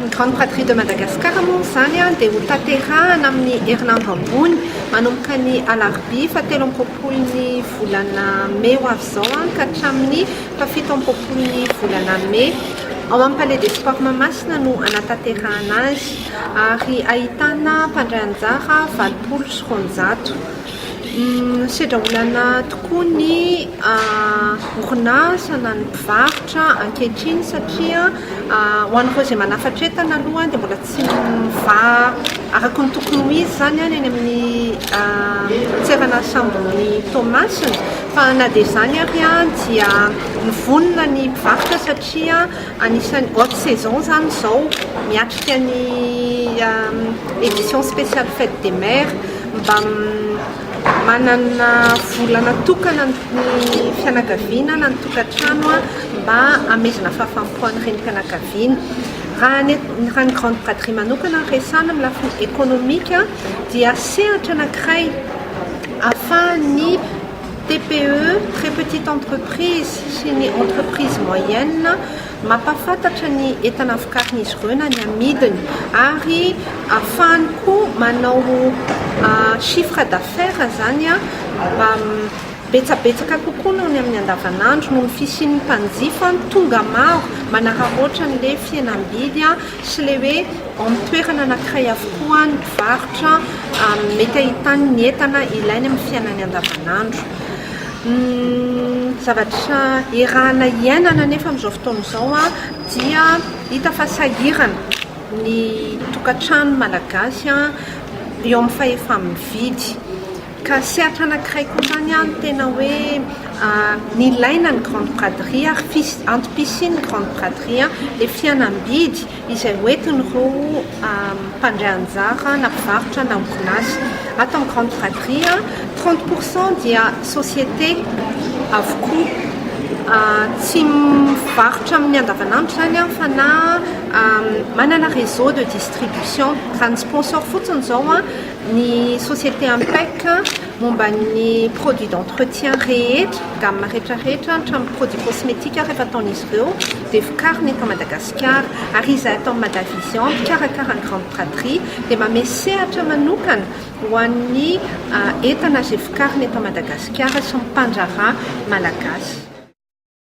Ny Grande Braderie de Madagascar moa izany dia ho tanterahana amin'ny herinandro ambony manomboka ny alarobia fa telo amby roapolo ny volana mey ho avy izao ka hatramin'ny fa fito amby roapolo ny volana mey. Ao amin'ny Palais des Sports Mahamasina no hanatanterahana azy ary ahitana mpandray anjara valopolo sy roanjato. Misedra olana tokoa ny orinasa na ny mpivarotra ankehitriny satria ho an'ireo izay manafatra entana aloha dia mbola tsy mivaha araka ny tokony ho izy izany any amin'ny tseranasambon'i Toamasina fa na dia izany ary dia vonona ny mpivarotra satria anisan'ny haute saison izany izao miatrika ny édition spéciale fête des mères. Mba manana vola natokana ny fianakaviana na ny tokantrano mba hamezana fahafaham-po ho an'ny renim-pianakaviana. Raha ny raha ny grande braderie manokana no resahana amin'ny lafiny ekonomika dia sehatra anankiray ahafahan'ny TPE, très petite entreprise, sy ny entreprise moyenne, Mampahafantatra ny entana vokarin'izy ireo na ny amidiny ary ahafahany koa manao chiffre d'affaires izany betsabetsaka kokoa noho ny amin'ny andavanandro noho ny fisian'ny mpanjifa tonga maro manararaotra an'ilay fihenam-bidy sy ilay hoe ao amin'ny toerana anankiray avokoa ny mpivarotra mety ahitany ny entana ilainy amin'ny fiainany andavanandro. Ny zavatra erahana iainana anefa amin'izao fotoana izao dia hita fa sahirana ny tokantrano malagasy eo amin'ny fahefa-mividy ka sehatra anankiray koa izany ny tena hoe nilaina ny grande braderie ary antom-pisian'ny grande braderie ilay fihenam-bidy. izay hoentiny ho mpandray anjara na mpivarotra na orinasa. Ato amin'ny Grande Fratrie, trente pour cent dia société avokoa. Tsy mivarotra amin'ny andavanandro izany aho fa na manana réseau de distribution. Raha ny sponsor fotsiny izao ny société Impec momba ny produits d'entretien rehetra, gamme rehetrarehetra hatramin'ny produits cosmétiques rehefa ataon'izy ireo. dia vokarina eto Madagasikara ary izay atao Madavision mpikarakara ny Grande Braderie dia manome sehatra manokana ho an'ny entana izay vokarina eto Madagasikara sy ny mpandraharaha malagasy.